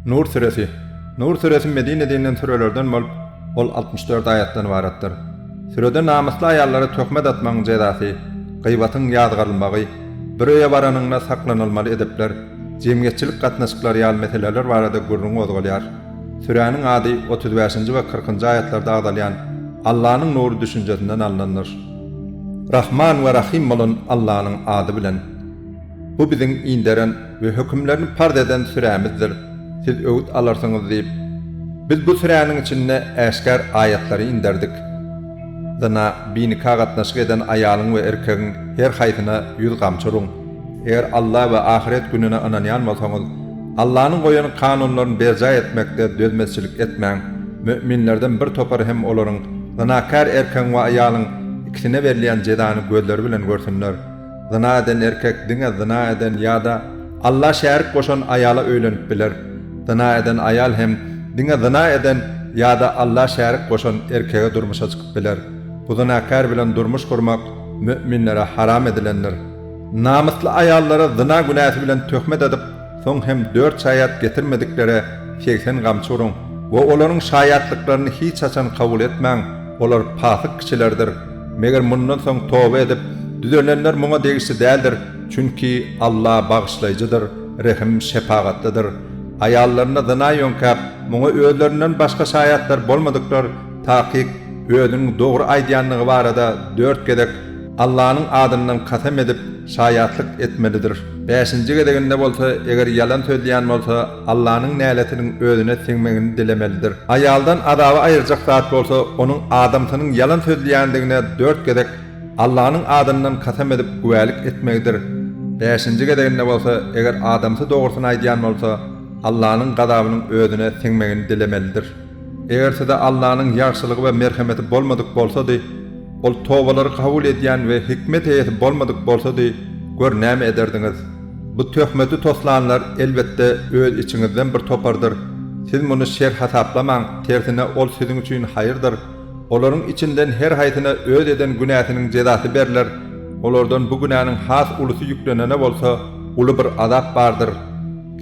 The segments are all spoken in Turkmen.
Nur süresi. Nur süresi Medinede inen sürelerden bolup, ol altmyş dört aýatdan ybaratdyr. Sürede namysly aýallara töhmet atmagyň jezasy, gybatyň ýazgarylmagy, bir öýe baranyňda saklanylmaly edepler, jemgyýetçilik gatnaşyklary ýaly meseleler barada gürrüň gozgalýar. Süräniň ady otuz bäşinji we kyrkynjy aýatlarda agzalýan Allanyň nury düşünjesinden alnandyr. Rahman we Rahym bolan Allanyň ady bilen. Bu biziň inderen we hökümlerini parz eden sürämizdir, siz öwüt alarsyňyz diýip, Biz bu süräniň içinde äşgär aýatlary inderdik. Zyna, binika gatnaşyk eden aýalyň we erkegiň her haýsyna ýüz gamçy uruň. Eger Alla we ahyret gününe ynanýan bolsaňyz, Allanyň goýan kanunlaryny berjaý etmekde dözmezçilik etmäň. Mü'minlerden bir topar hem olaryň, zynakär erkegiň we aýalyň, ikisine berilýän jezany gözleri bilen görsünler. Zyna eden erkek diňe zyna eden ýa-da Alla şärik goşan aýala öýlenip biler. Zyna eden aýal hem diňe zyna eden ýa-da Alla şärik goşan erkege durmuşa çykyp biler. Bu zynakär bilen durmuş gurmak mü'minlere haram edilendir. Namysly aýallara zyna günäsi bilen töhmet edip, Soň hem dört şaýat getirmediklere segsen gamçy uruň we olaryň şaýatlyklaryny hiç haçan kabul etmäň, olar pasyk kişilerdir. Meger mundan soň toba edip, düzelenler muňa degişli däldir, çünki Alla Bagyşlaýjydyr, Rehim, Şepagatlydyr. Aýallaryna zyna ýöňkäp, muňa özlerinden başga şaýatlar bolmadyklar takyk özüniň dogry aýdýandygy barada dört gezek Allanyň adyndan kasam edip, şaýatlyk etmelidir. Bäşinji gezeginde bolsa, eger ýalan sözleýän bolsa, Allanyň näletiniň özüne siňmegini dilemelidir. Aýaldan azaby aýyrjak zat bolsa, onuň adamsynyň ýalan sözleýändigine dört gezek Allanyň adyndan kasam edip güwälik etmegidir. Bäşinji gezeginde bolsa, eger adamsy dogrusyny aýdýan bolsa, Allanyň gazabynyň özüne siňmegini dilemelidir. Eger size Allanyň ýagşylygy we merhemeti bolmadyk bolsady, Ol tobalary kabul edýän we hikmet eýesi bolmadyk bolsady, gör, näme ederdiňiz? Bu töhmeti toslanlar, elbetde, öz içiňizden bir topardyr. Siz muny şer hasaplamaň, tersine, ol siziň üçin haýyrdyr. Olaryň içinden her haýsyna öz eden günäsiniň jezasy berler. Olardan bu günäniň has ulusy ýüklenene bolsa, uly bir azap bardyr.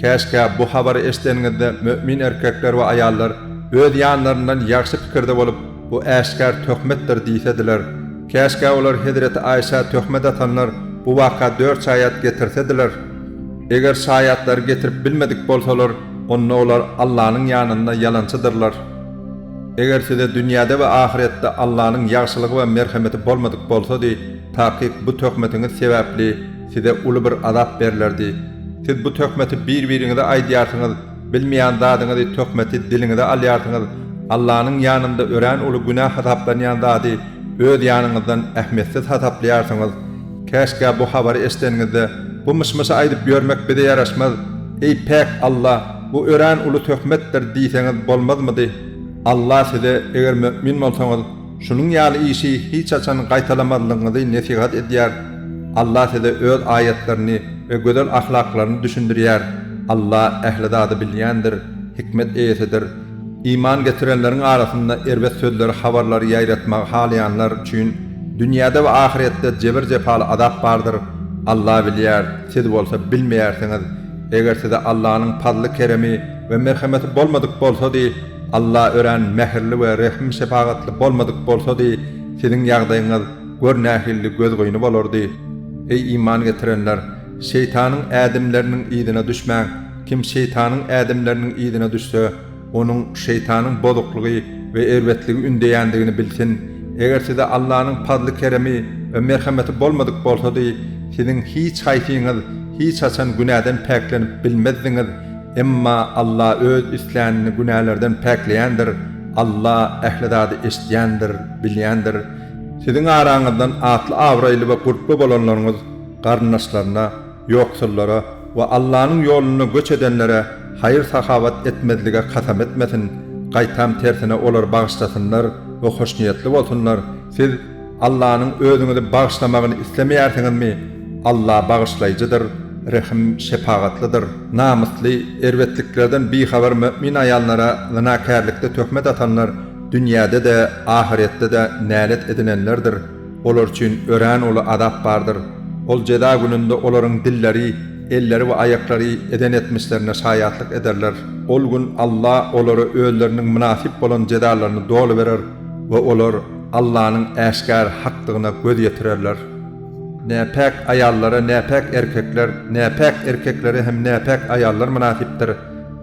Käşgä bu habary eşideniňizde mömin erkekler we aýallar öz ýanlaryndan ýagşy pikirde bolup, Bu äşgär töhmetdir diýsediler. Käşgä olar hezreti Aýşä töhmet atanlar bu waka dört şaýat getirsediler. Eger şaýatlary getirip bilmedik bolsalar, onda olar Allanyň ýanynda ýalançydyrlar. Eger size dünýäde we ahyretde Allanyň ýagşylygy we merhemeti bolmadyk bolsady, takyk bu töhmetiňiz sebäpli, Size uly bir azap berlerdi. Siz bu töhmeti bir-biriňize aýdýarsyňyz, bilmeýän zadyňyzy töhmeti diliňize alýarsyňyz, Allanyň ýanynda örän uly günä hasaplanýan zady öz ýanyňyzdan ähmiýetsiz hasaplaýarsyňyz. Käşgä bu habary eşideniňizde, Bu myş-myşy aýdyp ýörmek bize ýaraşmaz. Eý, päk Alla, bu örän uly töhmetdir diýseňiz bolmazmydy? Alla size, Eger mömin bolsaňyz, Şunuň ýaly işi hiç haçan gaýtalamazlygyňyzy nesihat edýär. Allah size öz aýatlaryny we gözel ahlaklaryny düşündirýär. Allah ähli zady bilýändir, hikmet eýesidir. Iman getirenleriň arasynda erbet sözleri habarlary ýaýratmagy halaýanlar üçin dünýäde we ahyretde jebir-jepaly azap bardyr. Allah bilýär, siz bolsa bilmeýärsiňiz. Eger size Allanyň pazly-keremi, we merhemeti bolmadyk bolsady, Alla örän mähirli we rehim-şepagatly bolmadyk bolsady, siziň ýagdaýyňyz gör nähilli gözgyny bolardy. Eý, iman getirenler! Şeýtanyň ädimleriniň yzyna düşmäň! Kim şeýtanyň ädimleriniň yzyna düşse, onuň şeýtanyň bozuklygy we erbetligi ündeýändigini bilsin. Eger size Allanyň pazly-keremi we merhemeti bolmadyk bolsady, siziň hiç haýsyňyz hiç haçan günäden päklenip bilmezdiňiz, Emma Alla Öz islänini günälerden päkleýändir, Alla ähli zady eşidýändir, bilýändir. Siziň araňyzdan atly-abraýly we gurply bolanlaryňyz garyndaşlaryna, ýoksullara we Allanyň ýolunda göç edenlere haýyr-sahawat etmezlige kasam etmesin, gaýtam tersine olar bagyşlasynlar we hoşniýetli bolsunlar, siz, Allanyň özüňizi bagyşlamagyny islemeýärsiňizmi? Alla bagyşlaýjydyr, rehim, şepagatlydyr. Namysly, erbetliklerden bihabar mömin aýallara zynakärlikde töhmet atanlar dünýäde-de, ahyretde-de nälet edinenlerdir. Olar üçin örän uly azap bardyr. Ol jeza gününde olaryň dilleri, elleri we aýaklary eden etmişlerine şaýatlyk ederler. Ol gün Alla olara özleriniň mynasyp bolan jezalaryny doly berer. we olar Allanyň äşgär hakdygyna göz ýetirerler. Näpäk aýallara näpäk erkekler, näpäk erkeklere hem näpäk aýallar mynasypdyr,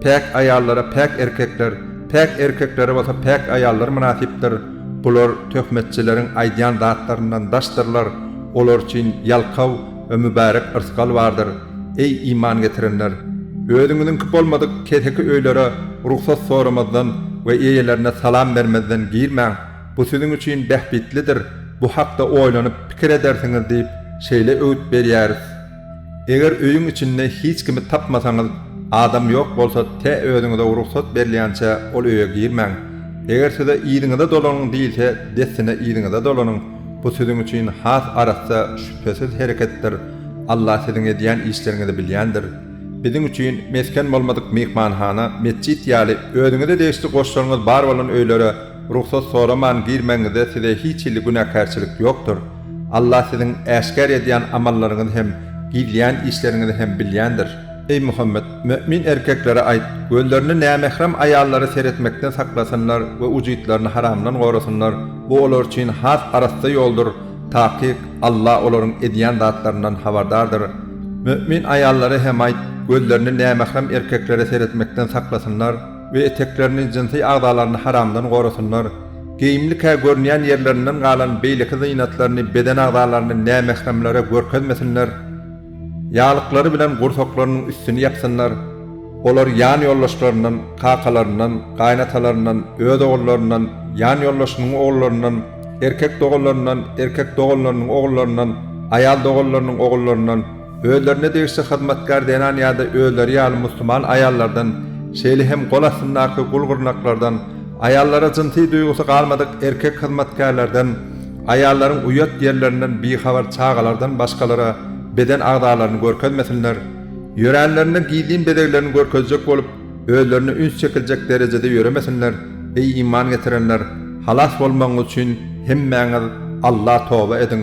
päk aýallara päk erkekler, päk erkeklere bolsa päk aýallar mynasypdyr, bular töhmetçileriň aýdýan zatlaryndan daşdyrlar, olar üçin ýalkaw we mübärek yrsgal bardyr. Eý, iman getirenler! Özüňiziňki bolmadyk keseki öýlere rugsat soramazdan we eýelerine salam bermezden girmäň, bu siziň üçin bähbitlidir, bu hakda oýlanyp pikir edersiňiz diýip, şeýle öwüt berýäris. Eger öýüň içinde hiç kimi tapmasaňyz, adam ýok bolsa, tä özüňize rugsat berilýänçä ol öýe girmäň. Eger size yzyňyza dolanyň diýilse, dessine yzyňyza dolanyň. Bu siziň üçin has arassa şübhesiz hereketdir, Allah siziň edýän işleriňizi bilýändir. Biziň üçin mesgen bolmadyk myhmanhana, metjit ýaly özüňize degişli goşlaryňyz bar bolan öýlere rugsat soraman girmegiňizde size hiç hili günäkärçilik ýokdur. Allah siziň äşgär edýän amallaryňyzy hem, gizleýän işleriňizi hem bilýändir. Eý Muhammet! Mömin erkeklere aýt, gözlerini nämährem aýallara seretmekden saklasynlar we ujytlaryny haramdan gorasynlar, bu olar üçin has arassa ýoldur, takyk, Alla olaryň edýän zatlaryndan habardardyr. Mömin aýallara hem aýt, gözlerini nämährem erkeklere seretmekden saklasynlar we eteklerini, jynsy agzalaryny haramdan gorasynlar. Geýimlikä görünýän ýerlerinden galan beýleki zynatlaryny, beden agzalaryny nämähremlere görkezmesinler. Ýaglyklary bilen gursaklarynyň üstüni ýapsynlar, olar ýan ýoldaşlaryndan, kakalaryndan, gaýynatalaryndan, öz ogullaryndan, ýan ýoldaşynyň ogullaryndan, erkek doganlaryndan, erkek doganlarynyň ogullaryndan, aýal doganlarynyň ogullaryndan, özlerine degişli hyzmatkär zenan ýa-da özleri ýaly musulman aýallardan, şeýle hem gol astyndaky gul-gyrnaklardan, aýallara jynsy duýgusy galmadyk erkek hyzmatkärlerden, Aýallaryň uýat ýerlerinden bihabar çagalardan başgalara beden agzalaryny görkezmesinler, ýöränlerinde gizlin bezeglerini görkezjek bolup, özlerine üns çekiljek derejede ýöremesinler, eý iman getirenler, halas bolmagyňyz üçin hemmäňiz Alla toba ediň.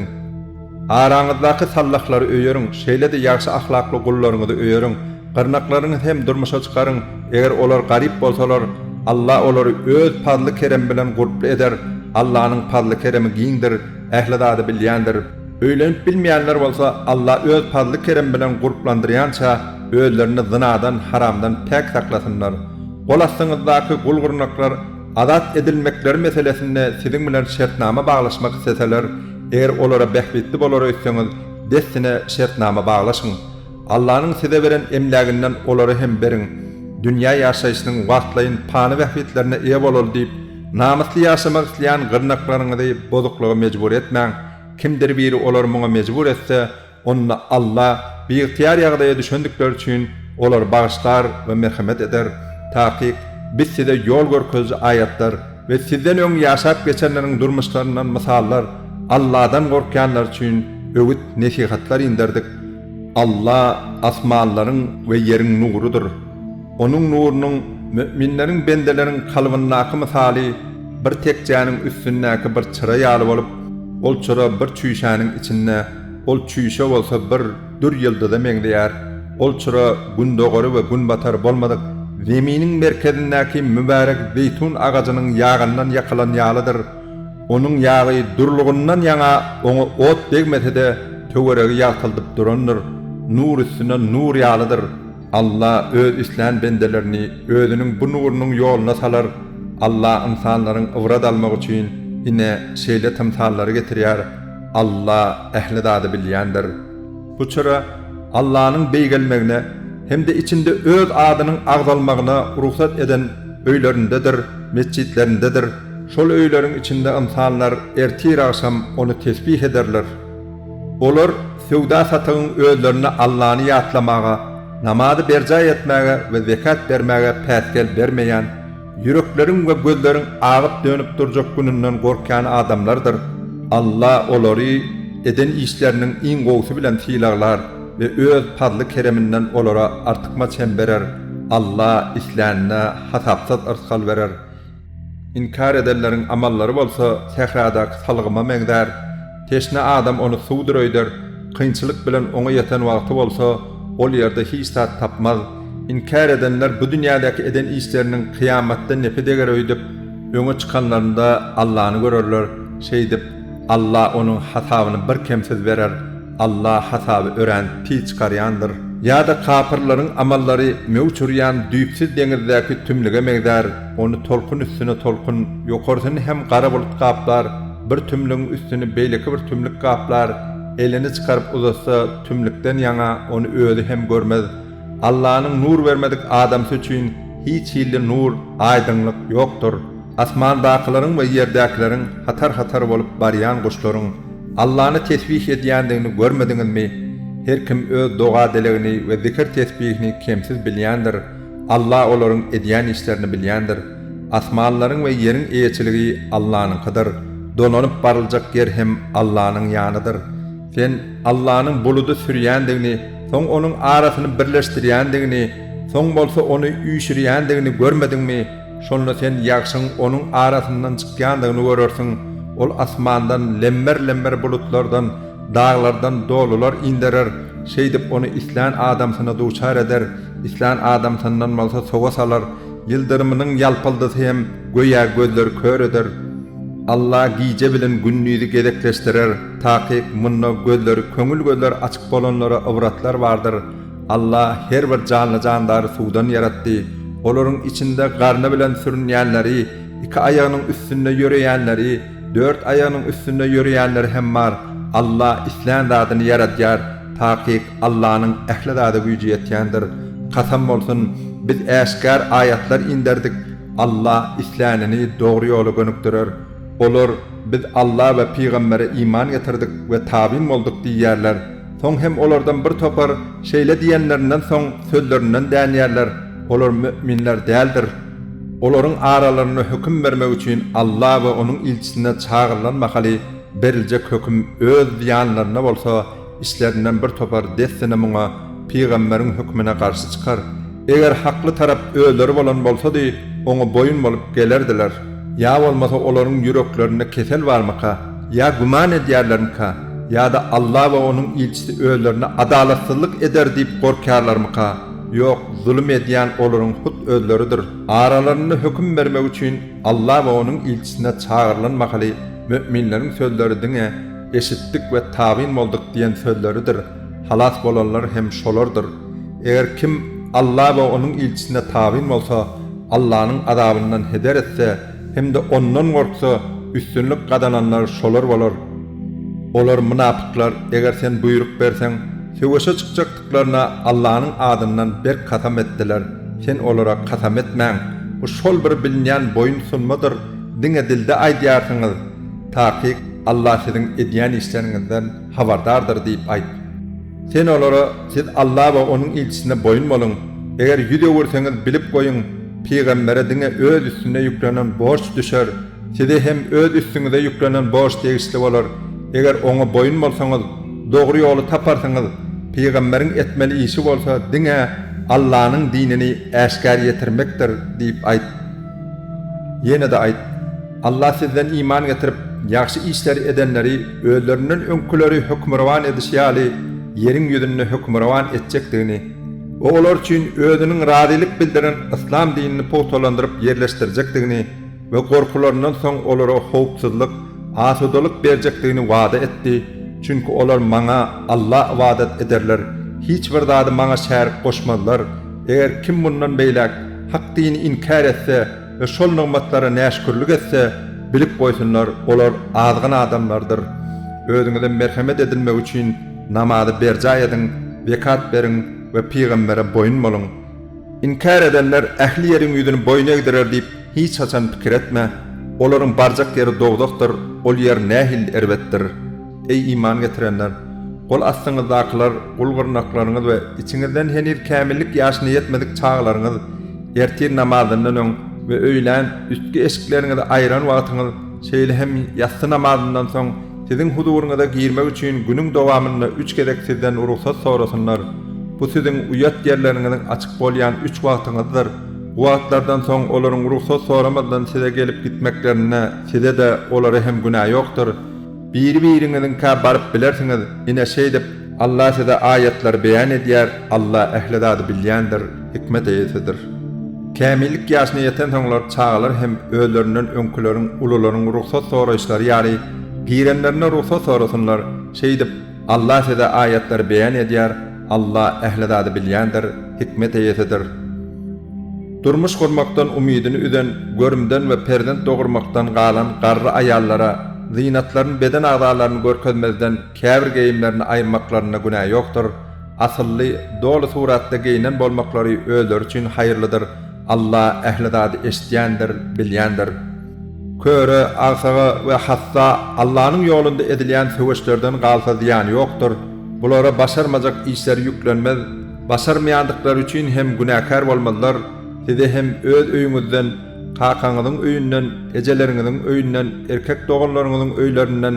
Araňyzdaky sallahlary öýeriň, şeýle-de ýagşy ahlakly gullaryňyzy öýeriň, Gyrnaklaryňyz hem durmuşa çykaryň, eger olar garyp bolsalar, Alla olary Öz pazly-keremi bilen gurply eder, Allanyň pazly-keremi giňdir, ähli zady bilýändir. Öýlenip bilmeýänler bolsa, Alla Öz pazly-keremi bilen gurplandyrýança, özlerini zynadan, haramdan päk saklasynlar. Gol astyňyzdaky gul-gyrnaklar azat edilmekleri meselesinde siziň bilen şertnama baglaşmak isleseler, eger olara bähbitli bolar öýtseňiz, dessine şertnama baglaşyň. Allanyň size beren emläginden olara hem beriň. Dünýä ýaşaýşynyň wagtlaýyn pany bähbitlerine eýe bolaly diýip, namysly ýaşamak isleýän gyrnaklaryňyzy bozuklyga mejbur etmäň. Kimdir biri olary muňa mejbur etse, onda Alla biygtyýar ýagdaýa düşendikleri üçin olary bagyşlar we merhemet eder. Takyk, Biz size ýol görkeziji aýatlar we sizden öň ýaşap geçenleriň durmuşlaryndan mysallar, Alladan gorkýanlar üçin öwüt-nesihatlar inderdik. Alla asmanlaryň we ýeriň nurudyr. Onuň nurunyň müminleriň bendeleriň kalbyndaky mysaly bir tekjäniň üstündäki bir çyra ýaly bolup, ol çyra bir çüýşäniň içinde, ol çüýşe bolsa bir dür ýyldyza meňzeýär. Ol çyra gündogary we günbatary bolmadyk Zeminiň merkezindäki mübärek zeýtun agajynyň ýagyndan ýakylan ýalydyr. Onuň ýagy durlugyndan ýaňa oňa ot degmese-de, töweregi ýagtyldyp durandyr, nur üstüne nur ýalydyr. Alla Öz islän bendelerini Özüniň bu nurunyň ýoluna salar. Alla ynsanlaryň ybrat almagy üçin ine, şeýle tymsallary getirýär. Alla ähli zady bilýändir. Bu çyra Allanyň beýgelmegine hem-de içinde Öz adynyň agzalmagyna rugsat eden öýlerindedir, metjitlerindedir. Şol öýleriň içinde ynsanlar ertir-agşam ony tesbih ederler. Olar söwda-satygyň özlerine Allany ýatlamaga, namazy berjaý etmäge we zekat bermäge päsgel bermeýän, ýürekleriň we gözleriň agyp-dönüp durjak gününden gorkýan adamlardyr. Alla olary eden işleriniň iň gowusy bilen sylaglar we Öz pazly-kereminden olara artykmaç hem berer. Alla islänine hasapsyz yrsgal berer. Inkär edenleriň amallary bolsa sähradaky salgyma meňzär. Teşne adam ony suwdur öýder, kynçylyk bilen oňa ýeten wagty bolsa, ol ýerde hiç zat tapmaz. Inkär edenler bu dünýädäki eden işleriniň kyýamatda nepi deger öýdüp, öňe çykanlarynda Allany görerler. Şeýdip, Alla onuň hasabyny birkemsiz berer. Alla hasaby örän pis çykarýandyr. Ýa-da kapyrlaryň amallary möwç urýan düýpsüz deňizdäki tümlüge meňzär, ony tolkun üstüne tolkun, ýokarsyny hem gara bulut gaplar, bir tümlügiň üstüni beýleki bir tümlük gaplar, elini çykaryp uzatsa, tümlükden ýaňa ony özi hem görmez. Allanyň nur bermedik adamsy üçin hiç hilli nur, aýdyňlyk, ýokdur. Asmandakylaryň we ýerdäkileriň hatar-hatar bolup barýan guşlaryň Allany tesbih edýändigini görmediňizmi? Her kim öz doga-dilegini we zikir-tesbihini kemsiz bilýändir, Alla olaryň edýän işlerini bilýändir. Asmanlaryň we ýeriň eýeçiligi Allanyňkydyr. Dolanyp baryljak ýer hem Allanyň ýanydyr. Sen Allanyň buludy sürýändigini, soň onuň arasyny birleşdirýändigini, soň bolsa ony üýşürýändigini görmediňmi? Şonda sen ýagşyň onuň arasyndan çykýandygyny görersiň. Ol asmandan lemmer-lemmer bulutlardan, daglardan dolular inderer, şeýdip ony islän adamsyna duçar eder, islän adamsyndan bolsa sowa salar. Ýyldyrymynyň ýalpyldysy hem göýä gözleri kör eder. Alla gije bilen gündizi gezekleşdirer, takyk munda gözleri köňül gözleri açyk bolanlara ybratlar bardyr. Alla her bir janly-jandary suwdan ýaratdy. Olaryň içinde garny bilen sürünýänleri, iki aýagynyň üstünde ýöreýänleri, dört aýagynyň üstünde ýöreýänleri hem bar. Alla islän zadyny ýaradýar. Takyk Allanyň ähli zada güýji ýetýändir. Kasam bolsun, biz äşgär aýatlar inderdik. Alla islänini dogry ýola gönükdirer. Olar, Biz Alla we pygambere iman getirdik we tabyn bolduk diýýärler. Soň hem olardan bir topar şeýle diýenlerinden soň sözlerinden dänýärler, Olar mü'minler däldir. Olaryň aralarynda höküm bermek üçin Alla we Onuň ilçisine çagyrylan mahaly beriljek höküm öz zyýanlaryna bolsa, Içlerinden bir topar dessine muňa pygamberiň hökmüne garşy çykar. Eger hakly tarap özleri bolan bolsady, oňa boýun bolup gelerdiler. Ýa bolmasa olaryň ýüreklerinde kesel barmyka? Ýa güman edýärlermikä? Ýa-da Alla we Onuň ilçisi özlerine adalatsyzlyk eder diýip gorkýarlarmyka? Ýok, zulum edýän olaryň hut özleridir. Aralarynda höküm bermek üçin. Allah we Onuň ilçisine çagyrylan mahaly möminleriň sözleri diňe, Eşitdik we tabyn bolduk diýen sözleridir, halas bolanlar hem şolardyr. Eger kim Allah we Onuň ilçisine tabyn bolsa, Allahnyň azabyndan heder etse hem-de Ondan gorksa, üstünlik gazananlar şolar bolar. Olar, mynapyklar, eger sen buýruk berseň, söweşe çykjakdyrlar. Ýüzlerine Allanyň adyndan berk kasam etdiler, Sen olara kasam etmäň! Bu şol bir bilinýän boýun sunmadyr, diňe dilde aýdýarsyňyz. Takyk, Alla siziň edýän işleriňizden habardardyr diýip aýt. Sen olara, Siz Alla we Onuň ilçisine boýun boluň! Eger ýüz öwürseňiz, bilip goýuň, pygambere diňe öz üstüne ýüklenen borç düşer. Size hem öz üstüňize ýüklenen borç degişli bolar. Eger oňa boýun bolsaňyz, dogry ýoly taparsyňyz. Pygamberiň etmeli işi bolsa diňe Allanyň dinini äşgär ýetirmekdir diýip aýt. Ýene-de aýt, Allah sizden iman getirip, ýagşy işleri edenleri özlerinden öňkileri hökmürowan edişi ýaly ýeriň ýüzünde hökmürowan etjekdigini we olar üçin özüniň razylyk bildiren yslam dinini pugtalandyryp ýerleşdirjekdigini, we gorkularyndan soň olara howpsuzlyk, asudalyk berjekdigini wada etdi, çünki olar Maňa, Alla, ybadat ederler, hiç bir zady Maňa şärik goşmazlar, eger kim mundan beýläk hak dini inkär etse we şol nygmatlara näşükürlik etse, bilip goýsunlar, olar azgyn adamlardyr. Özüňize merhemet edilmegi üçin namazy berjaý ediň, zekat beriň we pygambere boýun boluň. Inkär edenler ähli ýeriň ýüzüni boýun egdirer diýip hiç haçan pikir etme, olaryň barjak ýeri dowzahdyr, ol ýer nähili erbetdir! Eý, iman getirenler! Gol astyňyzdakylar, gul-gyrnaklaryňyz we içiňizden heniz kämillik ýaşyna ýetmedik çagalaryňyz ertir namazyndan öň we öýlän üstki eşikleriňizi aýran wagtyňyz, şeýle hem ýassy namazyndan soň Siziň huzuryňyza girmek üçin günüň dowamynda üç gezek sizden rugsat sorasynlar. Bu siziň uýat ýerleriňiziň açyk bolýan üç wagtyňyzdyr. Bu wagtlardan soň olaryň rugsat soramazdan size gelip gitmeklerinde size-de, olara hem günä ýokdur. Biri-biriňiziňkä baryp bilersiňiz, ine, şeýdip, Allah size aýatlary beýan edýär, Allah ähli zady bilýändir, hikmet eýesidir. Kämillik ýaşyna ýetensoňlar çagalar hem özlerinden öňküleriň, ulularyň rugsat soraýyşlary ýaly, pirenlerine rugsat sorasynlar, şeýdip, Allah size aýatlary beýan edýär, Allah ähli zady bilýändir, hikmet eýesidir. Durmuş gurmakdan umydyny üzen, görümden we perzent dogurmakdan galan garry aýallara, zynatlaryny beden agzalaryny görkezmezden, Käbir geýimlerini aýyrmaklarynda günä ýokdur. Asylly, doly suratda geýnen bolmaklary özleri üçin haýyrlydyr. Alla ähli zady eşidýändir, bilýändir. Köre, agsaga we hassa Allanyň ýolunda edilýän söweşlerden galsa zyýany ýokdur. Bulara başarmajak işleri ýüklenmez, başarmaýandyklary üçin hem günäkär bolmazlar. Size hem öz öýüňizden, kakaňyzyň öýünden, ejeleriňiziň öýünden, erkek doganlaryňyzyň öýlerinden,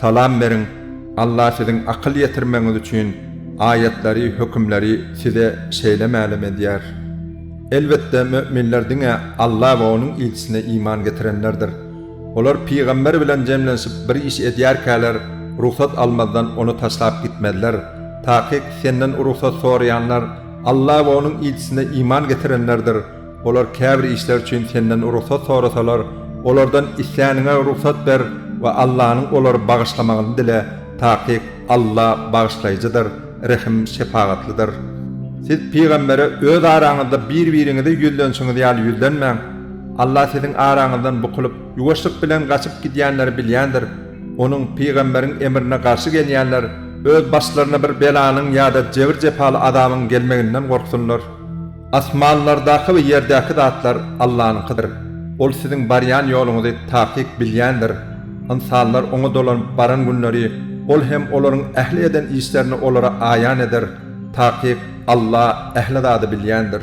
Salam beriň, Allah siziň akyl ýetirmegiňiz üçin aýatlary, hökümleri size şeýle mälim edýär. Elbetde möminler diňe Alla we onuň ilçisine iman getirenlerdir. Olar pygamber bilen jemlenşip bir iş edýärkäler rugsat almazdan ony taşlap gitmezler. Takyk senden rugsat soraýanlar Alla we onuň ilçisine iman getirenlerdir. Olar käbir işler üçin senden rugsat sorasalar, olardan isläniňe rugsat ber we Allanyň olary bagyşlamagyny dile, takyk Alla Bagyşlaýjydyr, Rehim, Şepagatlydyr. Siz pygambere öz araňyzda bir-biriňize ýüzlenişiňiz ýaly ýüzlenmäň. Alla siziň araňyzdan bukulyp, ýuwaşlyk bilen gaçyp gidýänleri bilýändir. Onuň, pygamberiň, emrine garşy gelýänler öz başlaryna bir belanyň ýa-da jebir-jepaly azabyň gelmeginden gorksunlar. Asmanlardaky we ýerdäki zatlar Allanyňkydyr. Ol siziň barýan ýoluňyzy takyk bilýändir. Ynsanlar Oňa dolanyp baran günleri Ol hem olaryň ähli eden işlerini olara aýan eder. Takyk Alla ähli zady bilýändir.